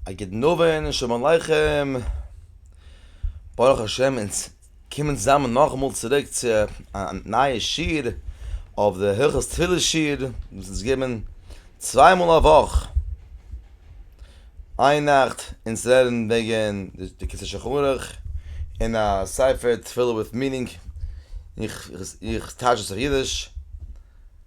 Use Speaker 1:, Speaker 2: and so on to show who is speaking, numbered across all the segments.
Speaker 1: א גוטן אווענט, שלום עליכם. ברוך השם אונז קומען צוזאמען נאכאמאל צוריק צו א נייע שיעור אויף די הלכות תפילה שיעור וואס אונז גיבן צוויי מאל א וואך. איין נאכט אונז לערנען וועגן די כסא שחרית און א ספר תפילה וויט מינינג איך איך טייטש עס אויף אידיש.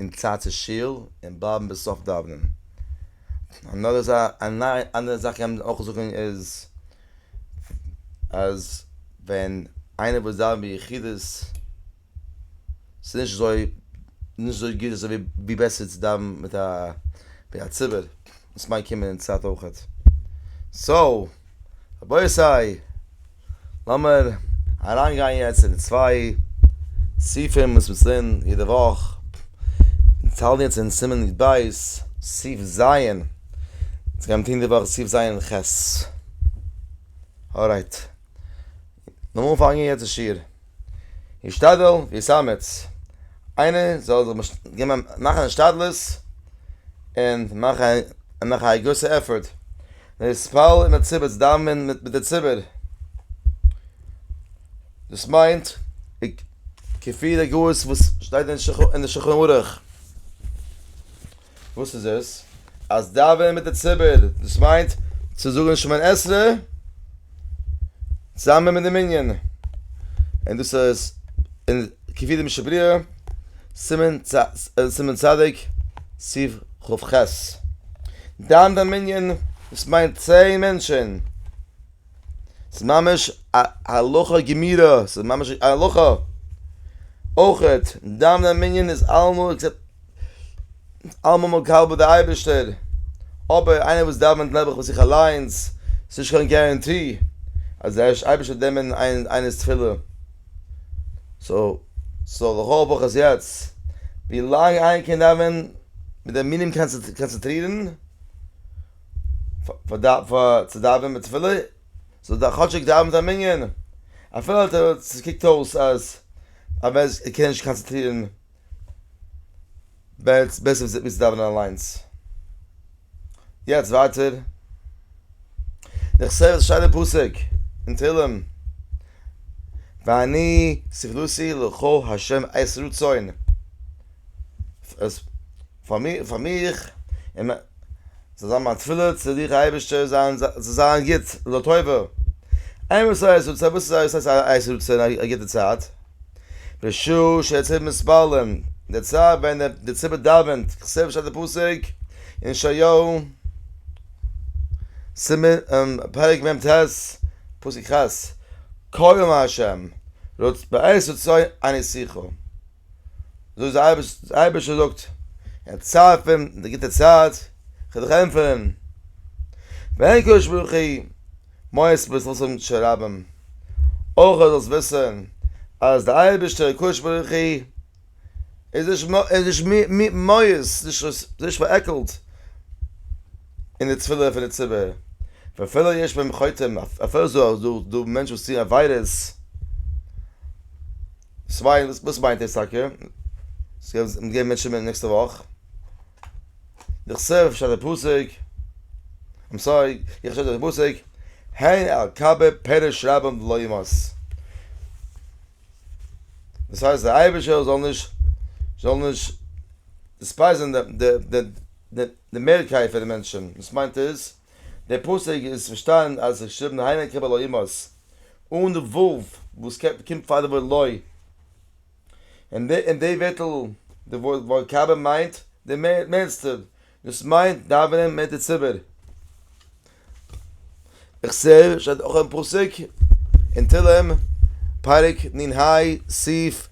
Speaker 1: אין צייט צו שיל און בלייבן ביז סוף דאווענען. אנאדער זאך א אנדערע זאך קען מען אויך זאגן איז אז ווען איינער וואס דאווענט ביחידות ס'איז נישט אזוי נישט אזוי גוט אזוי ווי בעסער צו דאווענען מיט א ווי א ציבור וואס מייג קומען אין צייט אויכעט. סאו רבותי! לאמיר אריינגיין יעצט אין די צוויי סעיפים וואס מיר לערנען יעדע וואך, אונז האלטן יעצט אין סימן י ב, סעיף ז', אונז גיימיר טון די וואך סעיף ז' ח, ארייט, לאמיר אנפאנגען יעצט די שיעור. השתדל ויסאמץ, איינער זאל זיך מאכן השתדלות און מאכן א גרויסע עפארט, להתפלל עם הציבור, צו דאווענען מיט די ציבור, דאס מיינט כפי דער גאות וואס שטייט אין די שולחן ערוך. וואס איז עס? אז דאווענען מיט די ציבור, דאס מיינט צו זאגן שמע נ עשרה צוזאמען מיט די מנין. און דאס איז אין כפי דעם שבריאה, סימן צ, סימן צדיק, סיף כב ח. דאווענט א מנין, דאס מיינט צען מענטשן. ס'איז ממש א הלכה גמירא, ס'איז ממש א הלכה. אויכעט, דיין דיין מנין איז אלעמאל עקסעפט, אלעמאל מקבל ביי די אייבערשטער, אבער איינער וואס דאווענט נעבעך ביי זיך אליינס, ס'איז נישט קיין גערענטי אז די אייבערשטער וועט נעמען איינער'ס תפילה. סאו, סאו לכל הפחות יעצט, ווילאנג איינער קען דאווען מיט די מנין קאנצענטרירן, צו דאווענען מיט תפילה, זאל ער כאטשיג דאווענען זיין מנין, אפילו אז עס קוקט אויס אז ער קען נישט קאנצעטרירן, בעסער ווי צו דאווענען אליינס. יעצט ווייטער, איך זע א שיינע פסוק אין תהלים, ואני ספלותי לכל ה' עת רצון. פאר מיר פאר מיך און מיין זאל זיין מיין תפילה צו דיך אייבערשטער זיין זאל זיין גוט זאל טובה אין וואס הייסט רצון וואס איז וואס הייסט רצון א גוטע צייט בשעה שהציבור מתפללים די צייט ווען די ציבור דאווענט כסדר שטייט די פסוק אין ישעיהו סימן פרק מ ט פסוק כז כה אמר ה' רצ ב עת רצון אני שיחה. זאג זיי אייביג אייביג זאגט אין צייט פון די גוטע צייט כ'וועל דיך ענטפערן ווען קדוש ברוך הוא מאס וועסט זאלסט האבן קשב רבים אויך זאלסט וויסן אז די אייבישטער קדוש ברוך הוא איז נישט איז נישט מיאוס נישט נישט נישט פארעקלט אין די תפילה פון די ציבור ואפילו יש בהם חוטאים אפילו איז דא דא מענטשן וואס טוען עבירות צוויי וואס מיינט דאס טאקע? מ'וועט געבן מענטשן מיט נעקסטע וואך? דכסוף שטייט א פסוק, איים סארי, איך שטייט דאך א פסוק, הן על קב פירש רבים דלא ימאס. דאס הייסט דער אייבערשטער זאל נישט זאל נישט דיספייזען די מערקייט פון די מענטשן, דאס מיינט איז, דער פסוק איז צו פארשטיין אז עס איז געשריבן הנה קרב הלא ימות אן די ו' וואס קומט פאר די ווארט לא, און די ווערטל די ווארט קרבן מיינט די מערסטע, דאס מיינט דאווענען מיט די ציבור. איך זע עס שטייט אויך אין פסוק אין תהלים פרק נ ה סי'.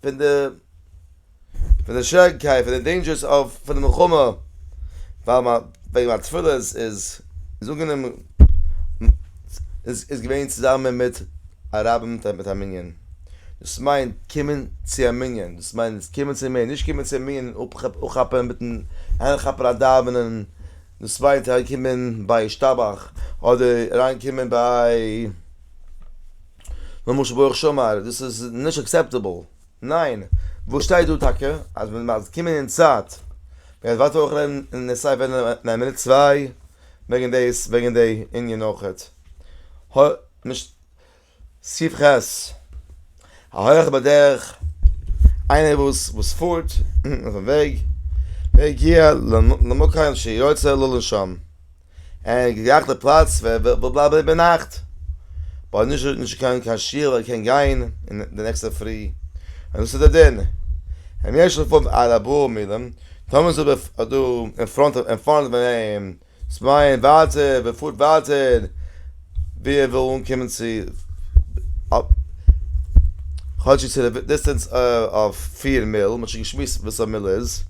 Speaker 1: פון די פון די שוועריקייט פון די דעינדזשערס אויף פון די מלחמה ווייל מיין וועגן מיין תפילות איז איז אנגענומען איז איז געווען צוזאמען מיט א רב מיט א מיט א מנין דאס מיינט קומען צו א מנין דאס מיינט נישט קומען צו מיר נישט קומען צו מיר אפכאפען מיטן אריינכאפען א דאווענען דאס מיינט אריינקומען ביי ישתבח אדער אריינקומען ביי למשל ברוך שאמר דאס איז נישט אקסעפטעבל, ניין וואס שטייט דא טאקע אז מען דארף קומען אין צייט, מען וועט ווייטער אויך רעדן אין די סייט וועגן א מינוט צוויי וועגן דאס וועגן די ענין אויכעט. סי' ח' ההולך בדרך איינער וואס וואס פארט אויפן וועג והגיע למקום שיוצא לו לנשום. אין געגאכטע פלאץ ווער וויל בלייבן איבערנאכט ווייל נישט נישט געקענט קיין שיעור ער קען גיין אין די נעקסטע פרי און דאס איז די דין אם יש לפניו ארבעה מילים טאמער איז דא איז דא אין פראנט אין פארנט פון אים צוויי און ווייטער ווער פארט ווייטער ווי ער וויל אנקומען צו כאטש איז די דיסטענס אויף פיר מיל מ'האט שוין געשמועסט וואס א מיל איז.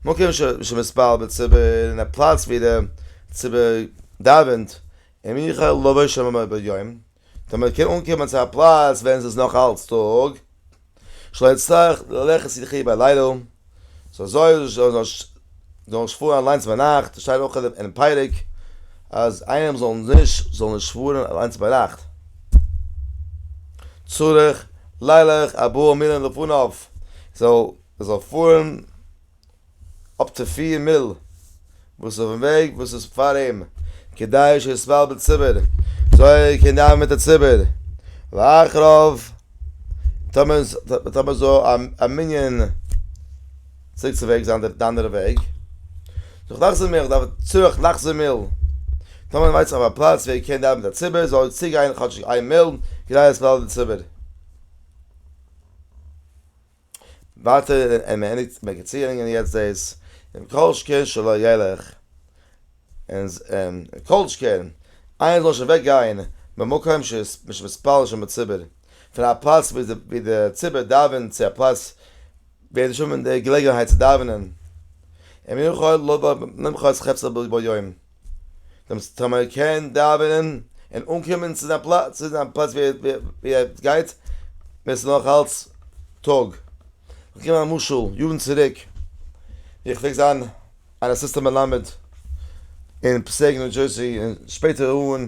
Speaker 1: מקום שמתפלל בציבור אין א פלאץ ווי די ציבור דאווענט, אם יוכל לבוא שמה מבעוד יום, טאמער מען קען אנקומען צו א פלאץ ווען ס'איז נאך אלץ טאג, שלא יצטרך ללכת יחיד בלילה, סאו זאל ער נישט פארן אליינס ביינאכט, עס שטייט אויך אינעם פרק אז איינער זאל נישט זאל נישט פארן אליינס ביינאכט. צריך לילך ארבעה מילין לפניו, זאל. עס זאל פארן אפ צו פֿיר מיל וואס אויפן וועג וואס איז פאר אים כדי שיסבול בציבור זוי ער קען דאווען מיט די ציבור ואחריו טאמער זאל א מנין צוריק צו וועג זיין די אנדערע וועג זיך לחזור מיל דארף ער צוריך לחזור מיל טאמער ער ווייסט אויף א פלאץ ווי ער קען דאווען מיט די ציבור זאל ער צוגיין כאטשיג איין מיל כדי לסבול די ציבור. ווייטער אין מען ענדיגט מען קען צוהערינגען יעצט דאס און כל שכן שלא ילך און כל שכן איינער זאל נישט אוועק גיין ממקום שיש מתפלל שם בציבור פון א פלאץ ווי די ציבור דאווענט צו א פלאץ ווי ער וועט נישט האבן די געלעגנהייט צו דאווענען און מנוחה לא בא למחרת חפצא בו יום דעם סטראמער קען דאווענען און אנקומען צו זיין פלאץ, צו זיין פלאץ ווי ער גייט ווען ס'איז נאך אלץ טאג. איך נעם א משל, יארן צוריק ווי איך פלעג זיין אן אסיסטענט מלמד אין פסעיק ניו דזשערסי און שפעטער אן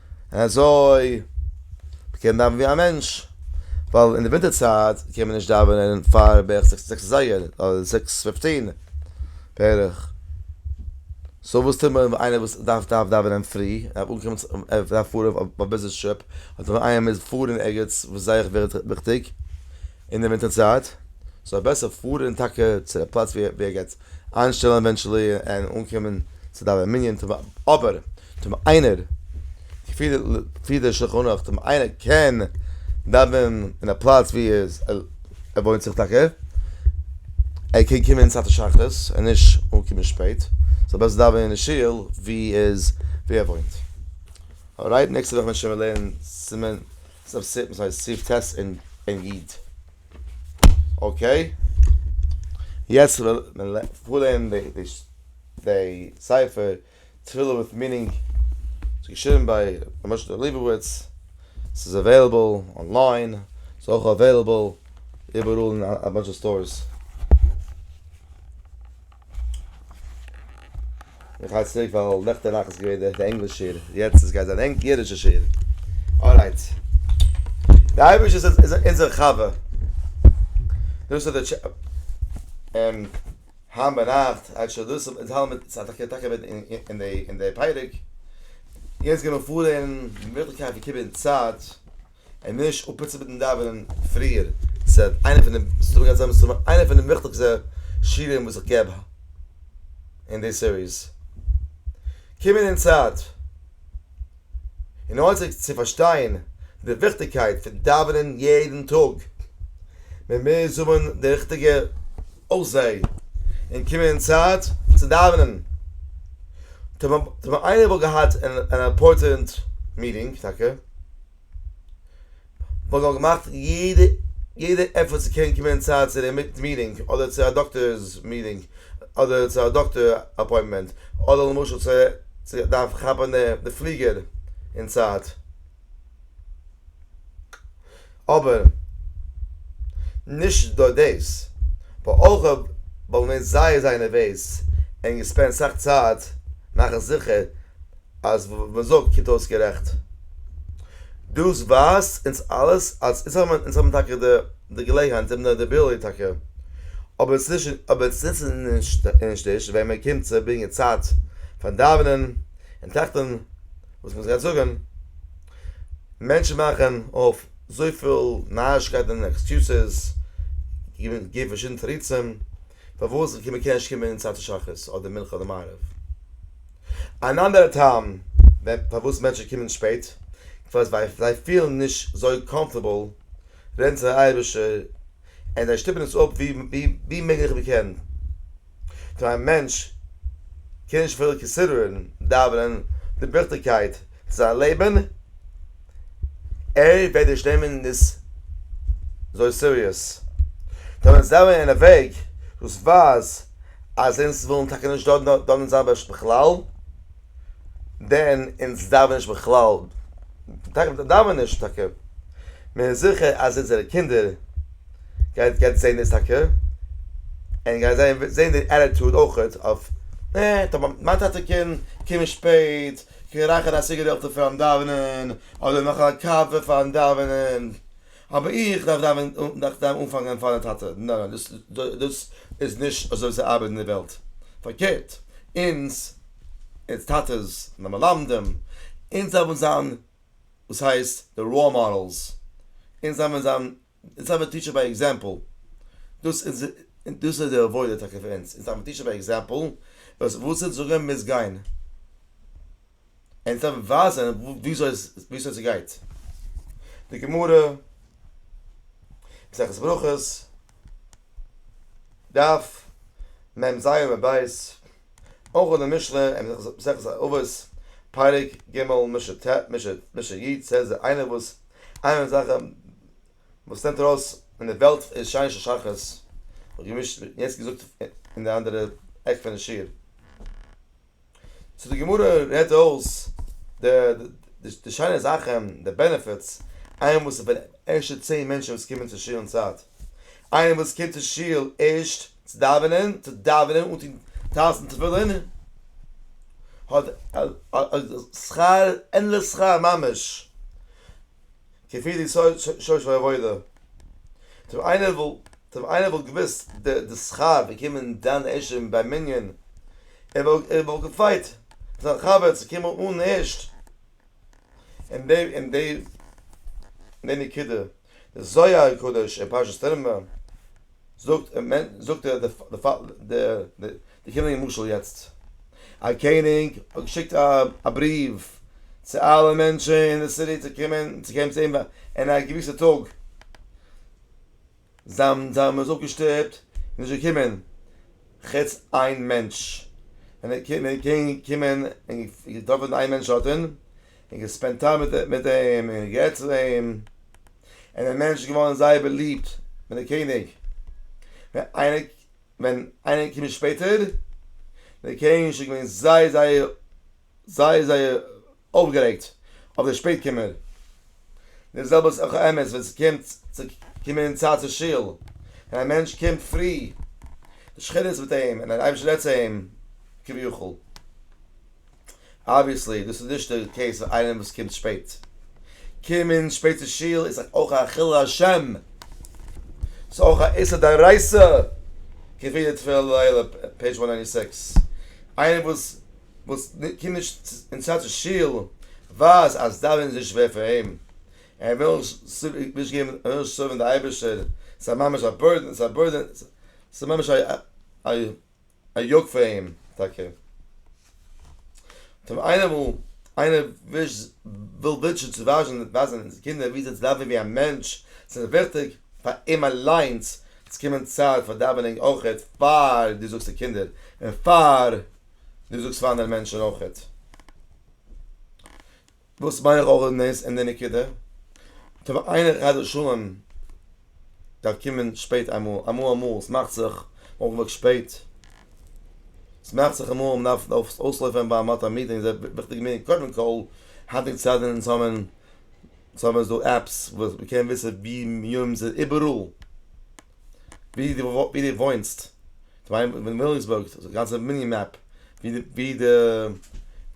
Speaker 1: אזוי מ'קען דאווענען ווי א מענטש, ווייל אין די ווינטער צייט קען מען נישט דאווענען פאר בערך זעקס זעקס אזייגער, אדער זעקס פיפטין בערך, סאו וואס טוט מען ווען איינער וואס דארף דארף דאווענען פרי, דארף אנקומען ער דארף פארן אויף א ביזנעס טריפ, אדער ווען איינער מוז פארן ערגעץ וואס זייער וויכטיג אין די ווינטער צייט, זאל ער בעסער פארן טאקע צו די פלאץ ווי ער גייט איינשטעלן עווענטשעלי און אנקומען צו דיין מנין טוב אבער טוב איינער כפי די שלחן ערוך טוב איינער קען דאווענען אין א פלאץ ווי ער וואוינט זיך טאקע ער קען קומען צייט השחרית און נישט אנקומען שפעט זאל בעסער דאווענען אין שול ווי איז ווי ער וואוינט ארייט נעקסטע וואך ווען שוין מיר לערנען סימן סב סי' וואס הייסט סי' ט' אין איד. אקעי, יעצט וועל מען פארלערנען די ספר תפילה וויט מינינג, ס'איז געשריבן ביי ר' משה'לע ליבוביץ, ס'איז אוועילעבל אנליין, ס'איז אויך אוועילעבל איבעראל אין א באנטש סטארס. איך הייס צוריק ווייל נעכטען נאכט איז געווען די ענגליש שיעור יעצט איז גייט זיין ענג אידישע שיעור ארייט די אייבישטער איז איז אונזער חבר דאס איז די טשע און היינט ביינאכט הייבט שוין דאס אן אינז מיט ס'האט טאקע טאקע אווען אין די אין די פרק יעצט גיימער פארען מיטלקייט פון קיבען צייט. און נישט אפפיצן מיטן דאווענען פריער, ס'וועט איינע פון די, ס'איז דא גענצליך מסתמא איינע פון די וויכטיגסטע שיעורים וואס איך געב אין די סיריס, קומען אין צייט, און ארטיג צו פארשטיין די וויכטיגקייט פון דאווענען יעדן טאג, מען מוז האבן די ריכטיגע. אויף זיי און קומען אין צייט צו דאווענען. טאמער טאמער איינער וואלט געהאט אן אימפארטענט מיטינג טאקע וואלט ער געמאכט יעדע יעדע עפערט צו קענען קומען אין צייט צו די מיטינג אדער צו א דאקטער'ס מיטינג אדער צו א דאקטער אפוינטמענט אדער למשל צו דארף כאפן די פליגער אין צייט. אבער נישט נאר דאס, באלכע בל נ זייער זייער נערוועז און געספענד סאך צייט מאכן זיכער אז וואס מען זאגט קומט אויס גערעכט. דאס ווייזט אונז אלעס אז אונז האבן אונז האבן טאקע די געלעגנהייט, אונז האבן די אביליטי טאקע, אבער אונז נישט אבער אונז נוצן נישט נישט ווען מען קומט צו ברענגען צייט פארן דאווענען און טראכטן. וואס מוז איך יעצט זאגן? מענטשן מאכן אויף זויפיל נארישקייטן און עקסקיוסעס, געבן פארשידענע תירוצים פארוואס מען קען נישט קומען אין צייט פון שחרית אדער מנחה אדער מעריב. אן אנדערע טעם פארוואס מענטשן קומען שפעט, כ'ווייס ווייל זיי פילן נישט אזוי קאמפארטעבל רעדן צו דער אייבערשטער און זיי שטופן עס אפ ווי מעגליך מען קען. טא א מענטש קען נישט אפילו קאנסידערען דאווענען די וויכטיגקייט פון זיין לעבען, ער וועט נישט נעמען דאס אזוי סיריעס. טא ווען זיי זענען אוועק דאס ווייזט אז אונז ווילן טאקע נישט דאווענען שבת בכלל. דען אונז דאווען נישט בכלל, תיכף דאווען נישט טאקע, מען איז זיכער אז אונזערע קינדער גייט גייט זען דאס טאקע, און גייען זיי זען די עטיטוד אויכעט אויף אה מיין טאטע קען קומען שפעט, קען רייכערן א סיגערעטל פארן דאווענען, אדער מאכן א קאווע פארן דאווענען, אבער איך דארף דאווען דארף דארף אנפאנגען פאר די טאטע, נאנא דאס דאס איז נישט אזוי ווי ס'ארבעט אין די וועלט, פארקערט אונז. אונז טאטעס און די מלמדים, אונז זיי וועלן זיין וואס הייסט די ראול מאדעלס, אונז זיי וועלן זיין, אונז זיי וועלן טיטשען ביי עקזעמפל, דאס איז דאס איז די עבודה טאקע פאר אונז, אונז זיי וועלן טיטשען ביי עקזעמפל, וואס וואס אונז זאגען מוז גיין, אונז זיי וועלן ווייזען וויאזוי וויאזוי ס'גייט, די גמרא, מסכת ברכות, דף מ ז עמוד ב'. אויך אין די משנה אין מסכת אבות פרק ג משנה ט משנה י זעהט זי איינער וואס איינער פון די זאכן וואס נעמט ארויס אין די וועלט איז שיין של שחרית און געמישט יעצט געזאגט אין די אנדערע עק פון די שיעור צו די גמרא רעדט אויס די די שיינע זאכן די בענעפיטס איינער וואס איז בין ערשטע צען מענטשן וואס קומען צו שול אין צייט איינער וואס קומט צו שול ערשט צו דאווענען, צו דאווענען אן טון טלית און תפילין, האט שכר אין לשכר ממש, כפי די שורש פון עבודה, טוב איינער וואלט געוואוסט די שכר פון קומען דן עיזשין ביי מנין, ער וואלט געפייט זיין חבר צו קומען אן ערשט. אין די אין די אין די נקודה די זוהר הקדוש אין פרשת תרמב זאגט זאגט ער די די קעניגן משל יעצט א קעניג האט געשיקט א בריוו צו אלע מענטשען אין די סיטי צו קומען צו אים אין א געוויסע טאג. זיין זיין מאן איז אויך געשטופט און נישט געקומען, חוץ איין מענטש, ווען ער קען ווען ער קען קומען און געטראפען איין מענטש האט און און געספענט טיים מיט מיט אים און גערעדט צו אים, און דער מענטש איז געווארען זייער בעליבט מיט די קעניג, ווען איינער ווען איינער קומען שפעטער, דער קעניג איז שוין געווען זייער זייער. זייער זייער אויפגערעגט אויף די שפעט קומער, די זעלבע איז אויך אמת ווען ס'קומט צו קומען אין צייט צו שול, ווען א מענטש קומט פרי, די שכינה איז מיט אים און דער אייבערשטער רעדט צו אים כביכול, אבוויעסלי דאס איז נישט די קעיס פאר איינעם וואס קומט שפעט, קומען שפעט צו שול איז אויך א חילול השם, ס'איז אויך א איסור דאורייתא, כפי די תפלה לעילה, פעידזש וואן ניינטי סיקס, איינער וואס. וואס קומט נישט אין סאטשע שול ווייז אז דאווענען איז שווער פאר אים, ער וויל נישט געבן, ער וויל נישט סערווין די אייבערשטער, ס'איז ממש א בורדען, ס'איז א בורדען, ס'איז ממש א יאוק פאר אים טאקע. טוב איינער וויל, איינער וויל בענטשן צו ווייזן די קינדער ווי אזוי צו דאווענען ווי א מענטש, ס'איז וויכטיג פאר אים אליינס צו קומען צייט פאר דאווענען אויך פאר די זאגסטע קינדער און פאר דו זאגסט פאר אנדערע מענטשן אויכעט וואס מיין רולן איז אין די נקודה. טא ווען איינער חס ושלום דארף קומען שפעט אמאל, אמאל אמאל, ס'מאכט זיך אויך וואס שפעט, ס'מאכט זיך אמאל מען דארף אויסלויפען ווייל מ'האט א מיטינג זייער וויכטיגע מיטינג, קודם כל היינטיגע צייט זענען אונז האבן, ס'האבן אונז דא עפפס וואס מ'קען וויסען ווי יומ'ס איז איבעראל. ווי די ווי די וואוינסט, וויליאמסבורג, די גאנצע מיני מעפ, ווי די ווי די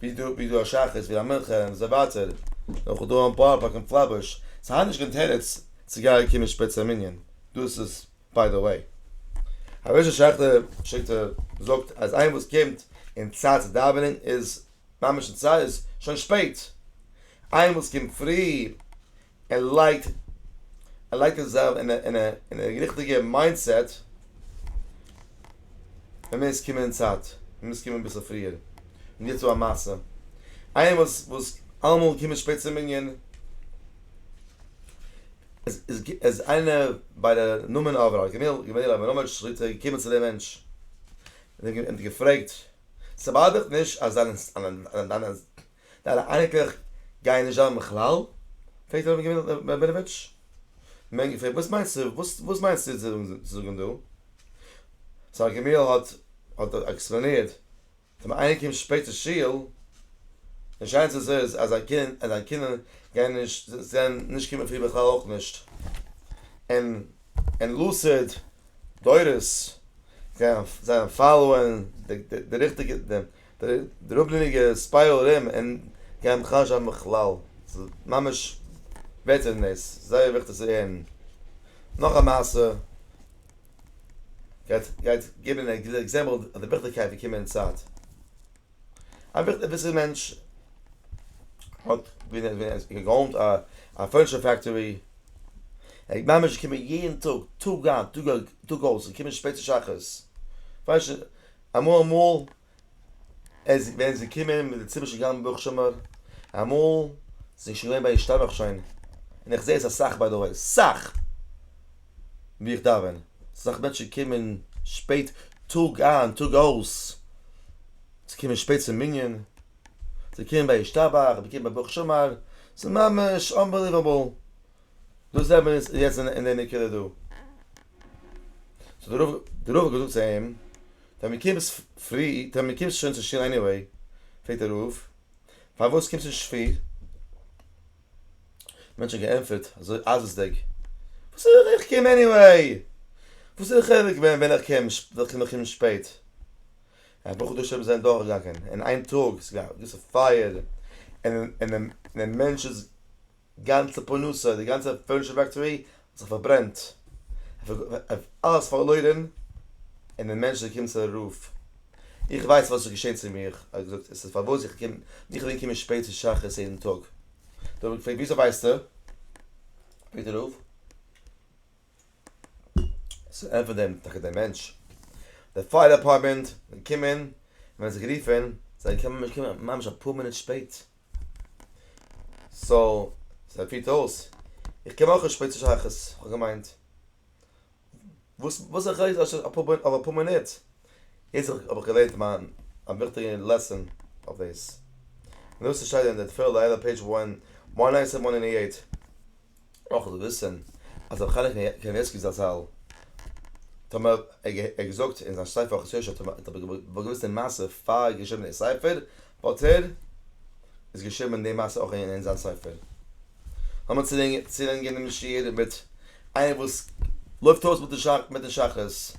Speaker 1: ווי דו ווי דו א שחרית ווי א מנחה און אזוי ווייטער, אויך דא אין בארא פארק אין פלעטבוש, ס'האט נישט קיין תירוץ צו גייען קומען שפעט צו א מנין, דאס איז ביי די וועי. הרב שכטר שיקט זאגט אז איינער וואס קומט אין צייט צו דאווענען איז ממש אין צייט איז שוין שפעט, איינער וואס קומט פרי ער לייגט ער לייגט עס זיך אין א אין א ריכטיגע מיינדסעט, מען מוז קומען אין צייט, מען מוז קומען אביסל פריער, מען גיבט צו א מעשה, איינער וואס וואס אלעמאל קומט שפעט צום מנין, עס עס איז איינער ביי די נאמען אברהם געמיל געמיל אברהמאוויטש שליט א געקומען צו דעם מענטש, און אים געפרעגט, ס'באדערט נישט אז דיינע דיינע דיינע אייניקלעך גייען נישט דאווענען בכלל? פרעגט ר' אברהם רבינאוויטש. מענג פרעגט וואס מיינסטו וואס מיינסטו צו זאגן דא? זיין געמיל האט האט עקספלאנירט ווען איינער קומט שפעט צו שול די שענס איז איז אז זיינע קינדער גייען נישט זען נישט קומען פרי בכלל אויך נישט און און לוסעד דורות גייען זיין פאלאוען די ריכטיגע די אראפליניגע ספיירל רום אין גייען בכלל נישט ארבעטן בכלל, ס'איז ממש בעסער פון דאס, זייער וויכטיג צו הערן. נאך א מעשה גייט גייט געבן א גוטע עקזעמפל אויף די וויכטיגקייט פון קומען אין צייט. א וויסער מענטש האט געאונט א פורניטשער פעקטארי, ער איז ממש געקומען יעדן טאג, טאג איין טאג אויס, און געקומען שפעט צו שחרית, אמאל אמאל איז ווען זי קומען מיט די ציבור שוין געגאנגען ברוך שאמר, אמאל זענען שוין געווען ביי השתבח שוין, און איך זע עס אסאך ביי די וועי, סאך ווי איך דאווען, סאך מענטשן קומען שפעט טאג איין טאג אויס, זיי קומען שפעט צום מנין, זיי קומען ביי השתבח, זיי קומען ביי ברוך שאמר, ס'איז ממש אנבעליוועבל, דאס זעט מען יעצט אין די נקודה דא. סאו דער רב האט געזאגט צו אים, ווען מען קומט פרי, ווען מען קומט שוין צו שול עניוועי, פרעגט דער רב, פארוואס קומסטו נישט פרי? מען האט שוין געענטפערט אזוי אייזעסדיג, וואס וויל איך, איך קום עניוועי, וואס איז די חילוק ווען איך קום, ווען איך קום שפעט? א בחור דאס זענען דורכגעגאנגען אין איין טאג, ס'איז געווען א געוויסע פייער, און די מענטש איז גאנצע פרנסה, די גאנצע פורניטשער פעקטארי האט זיך פארברענט, אלעס פארלוירען, און דער מענטש איז געקומען צו א רוף, איך ווייס וואס איז געשען צו מיר, ער האט געזאגט, עס איז פארוואס איך קום, איך בין געקומען שפעט צו שחרית יעדן טאג, דער רב האט געפרעגט וויאזוי ווייסטו? פרעגט דער רב. סאו ענטפערט דעם טאקע דער מענטש, די פייער דעפארטמענט זענען געקומען, מען האט זיי גערופען, זיי זענען געקומען ממש געקומען ממש אפאר מינוט שפעט, סאו זיי פירט אויס, איך קום אויך שפעט צו שייכות, איך האב געמיינט, וואס וואס א חילוק אויב ס'איז אפאר אויב אפאר מינוט, יעצט האב איך געלערנט מיין א וויכטיגע לעסאן אויף דאס, און דאס שטייט אין די תפלה לעילא פעידזש וואן נײַן סיוון נײַן הונדערט נײַנצן אַכט און נײַנציק. אויך זאל וויסען אז רבי חנוך קנייבסקי זצל טאמער ער האט געזאגט אין זיין ספר ארחות יושע טאמער האט ער געוואוסט די מעשה פאר ער האט געשריבען די ספר וואלט ער עס געשריבען די מעשה אויך אין זיין ספר. לאמיר צולענגען דעם שיעור מיט איינער וואס לויפט אויס מיטן שחרית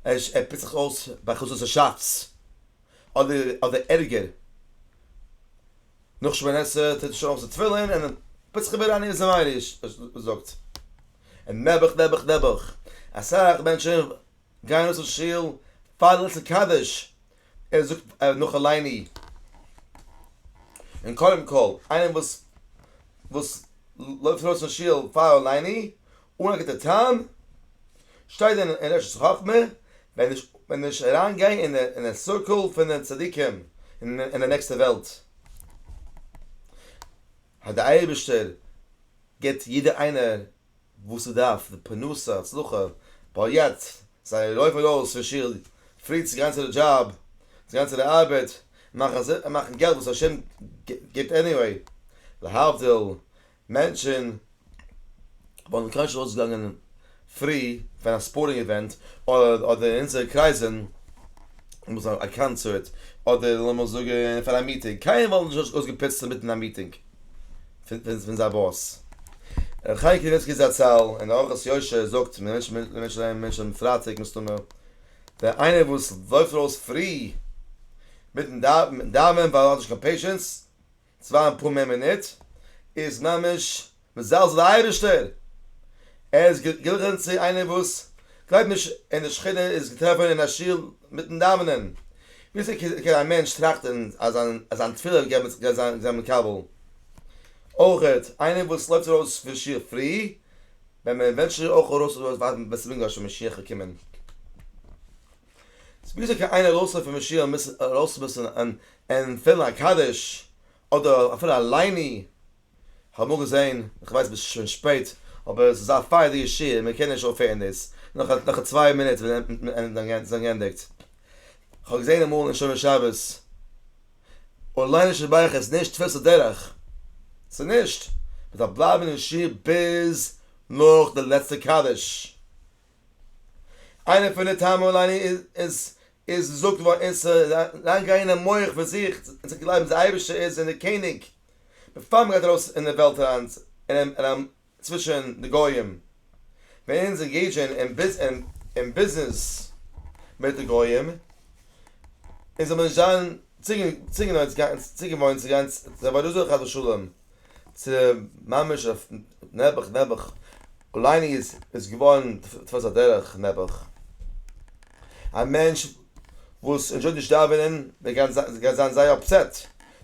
Speaker 1: ער פיצט זיך אויס ביי חצות השץ אדער ערגער. נאך שמונה עשרה טוט ער שוין אויס די תפילין און פוצט זיך איבער עניות המעניש זאגט און נעבעך נעבעך נעבעך אסאך מענטשען גייען אויס פון שול פאר ליל קדיש ער זאגט נאך אליני און קודם כל איינער וואס וואס לויפט ארויס פון שול פאר אליני אן א גוטע טעם, שטייט דען אין אשת חכמה, ווען נישט ווען נישט אריינגיין אין די אין די סירקעל פון די צדיקים אין אין די נעקסטע וועלט, אז די אייבערשטער גיט יעדע איינער וואס ער דארף, די פרנסה, הצלחה, ווייל יעצט זיי לויפן ארויס פון שול פרי צו גיין צו די דזשאב, צו גיין צו די ארבעט, מאכן מאכן געלט וואס השם גיט עניוועי, להבדיל מענטשען וואלטן קיינשט נישט אויסגעגאנגען פרי ווען א ספארטינג איווענט אדער אין אונזערע קרייזען וואס א א קאנצערט אדער לאמיר זאגען פאר א מיטינג קיינער וואלט נישט אויס אויסגעפוצט אינמיטן א מיטינג פון פון זיין באס. רבי חיים קניבסקי זצל אין אורחות יושר זאגט מען מענטשען מענטשען מענטשען אהיים מענטשען אויפן פרייטאג מסתמא ווען איינער וואס לויפט ארויס פרי מיטן דאווענען ווייל ער האט נישט קיין פעישענס צוויי און פאר מער מינוט איז ממש מזלזל די אייבערשטער, ער איז געגליכן צו איינער וואס גלייבט נישט אין די שכינה איז געטראפן אין א שול מיטן דאווענען, וויאזוי קען א מענטש טראכטן אז זיין תפילה גייט זיין מקובל, אויכעט איינער וואס לויפט ארויס פון שיך פרי ווען מען ווענטשט איר אויך ארויס ווען ס'מוז גאר שוין משיח קומען. ס'איז וויאזוי קען איינער ארויסהעלפן פון שיעור און מוז ארויסמופן און ענטפערן א קדיש אדער אפילו א לייני, כ'האב אמאל געזען, כ'ווייס ס'איז שוין שפעט, אבער ס'איז א פייערדיגע שיעור, מען קען נישט אויפהערן דאס, נאך צוויי מינוט ווען ס'איז גענדיגט. כ'האב געזען אמאל אין שומר שבת, און לייני שבח איז נישט תפיסת הדרך, ס'איז נישט, מ'דארף בלייבן אין שיעור ביז נאך די לעצטע קדיש, איינע פון די טעמים לעני איז איז געזאגט געווארן איסור איז אריין גיין אין מח פון זיך און צו גלייבן אז די אייבערשטער איז אין די קעניג בעפאר מען גייט ארויס אין די וועלט אריין און צווישען די גוים ווען אונז ענגעידזשען אין ביזנעס מיט די גוים און זאל מען נישט זיין צוגעוואוינט צו גיין צו די עבודה זרה חס ושלום. צו ממש אויף נעבעך נעבעך, אולי איז עס געווארן תפסת הדרך נעבעך, א מענטש וואס ענדשויט נישט דאווענען וועט גייט זיין זייער אפסעט,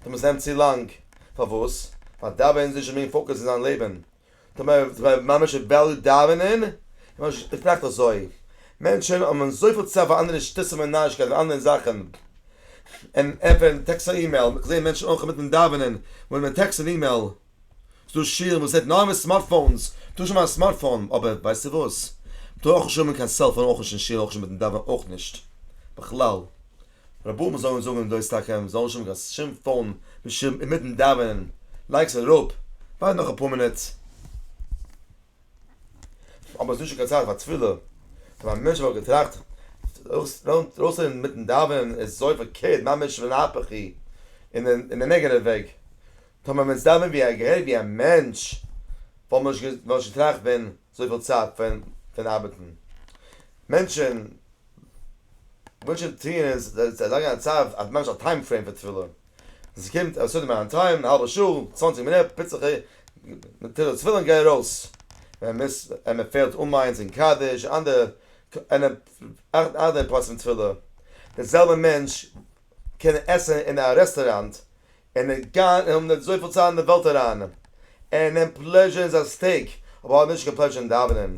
Speaker 1: דעמאלטס נעמט צו לאנג, פארוואס? ווייל דאווענען איז נישט די מעין פאוקעס אין זיין לעבן, טאמער איז דער ממש וועליו דאווענען ממש איז נאכט אזוי, מענטשען האבן זויפיל צייט פאר אנדערע שטותים און נארישקייטן און אנדערע זאכן און ענטפערן טעקסט און אימעיל, איך זעה מענטשען אויך אינמיטן דאווענען וואוינען מיט טעקסט און אימעיל, ס'דא שיעורים וואס רעדט נאר מיט סמארט פאונס, טוה נישט האבן א סמארט פאון, אבער ווייסטו וואס? מ'טאר אויך נישט האבן קיין סעלפאון אויך נישט אין שיעור אויך נישט מיטן דאווענען אויך נישט בכלל, רבותי מיר זאגן זאגן דאס טאקע מיר זאלן נישט האבן קיין שום פאון בשום אינמיטן דאווענען לייג עס אראפ ווארט נאך אפאר מינוט אבער עס איז נישט קיין צייט פאר תפילה און א מענטש וואלט געטראכט ארויסצוגיין אינמיטן דאווענען איז זוי פארקערט ממש מן ההיפך היא אין די נעגאטיווע וועג טאמער מען וועט דאווענען ווי א מענטש וואלט מען נישט געטראכט פון זויפיל צייט פון פון ארבעטן מענטשן וואונטשן טוען איז זיי צו ערלייגן א צו אז ממש א טיים פרעים פאר תפילה עס קומט א סעודה מיין טיים א האלבע שעה צוואנציג מינוט פוץ איך מתיר די תפילין גיי ארויס ווען מ'איז ווען מ'פעלט אן מנין און קדיש אנדערע אנדערע פלאצן פון תפילה די זעלבע מענטש קען עסן אין א רעסטוראנט און ער גייט און האט נישט זויפיל צייט אין די וועלט אריין, ער נעמט פלעזשער אין זיין סטעיק אבער האט נישט קיין פלעזשער אין דאווענען,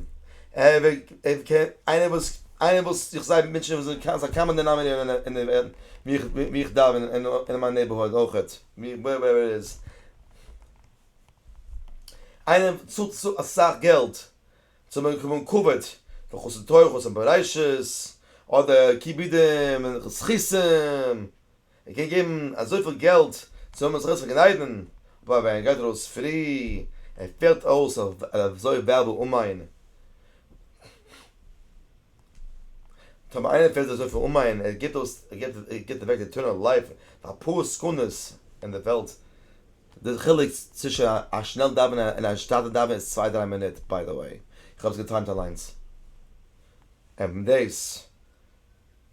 Speaker 1: איינער וואס איינער וואס איך זעה מענטשן וואס זענען קאמאן קאמאן דענאמענעיטער אין די וועלט ווי איך דאווען אין מיין נעיבערהוד אויכעט ווערעווער איט איז, איינער וואס צאלט אסאך געלט צו באקומען כבוד פון חסד תורות און בראשית אדער כיבודים און זכותים. ער קען געבן אזויפיל געלט צו האבן זיך אויס פארגניידן, אבער ווען ער גייט ארויס פרי און פעלט אויס אזוי וועלוול אומיין, טאמער איינער פעלט אזויפיל אומיין ער גיט אויס ער גיט אוועק די עטערנעל לייף פאר אפאר סעקונדעס אין די וועלט, די חילוק צווישן א שנעל דאווענער און א שטאטע דאווענער איז צוויי דריי מינוט, ביי די וועי איך האב עס געטיימט אליינס, און דאס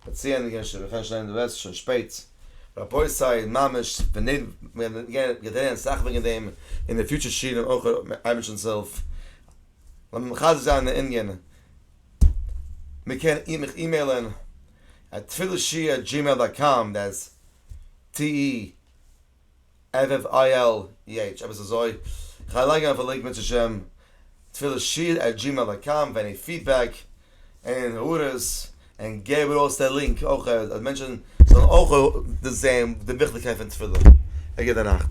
Speaker 1: כ'האב צוענדיגט געווען שוין מ'קען נישט ליינען די ווערטער ס'איז שוין שפעט. רבותי ממש פנעוו מ'האט געדענהן אסאך וועגן דעם אין די פיוטשער שיעורים אויך אייבערשטנ'ס הילף לאמיר מחזק זיין די ענין מ'קען איר מיך אימעילען א תפילה שיעור עט דזשימעיל דאט קאם דעס ט י. ערב איל יעטש עפעס אזוי, כ'גיי לייגן אויף א לינק בעצהשם, תפילה שיר עט דזשימעיל דאט קאם ווען עני פידבעק און הערות, און געב ארויס די לינק אויך אז מענטשן זאלן אויך דאס זעהן די וויכטיגקייט פון תפילה ערגער די נאכט.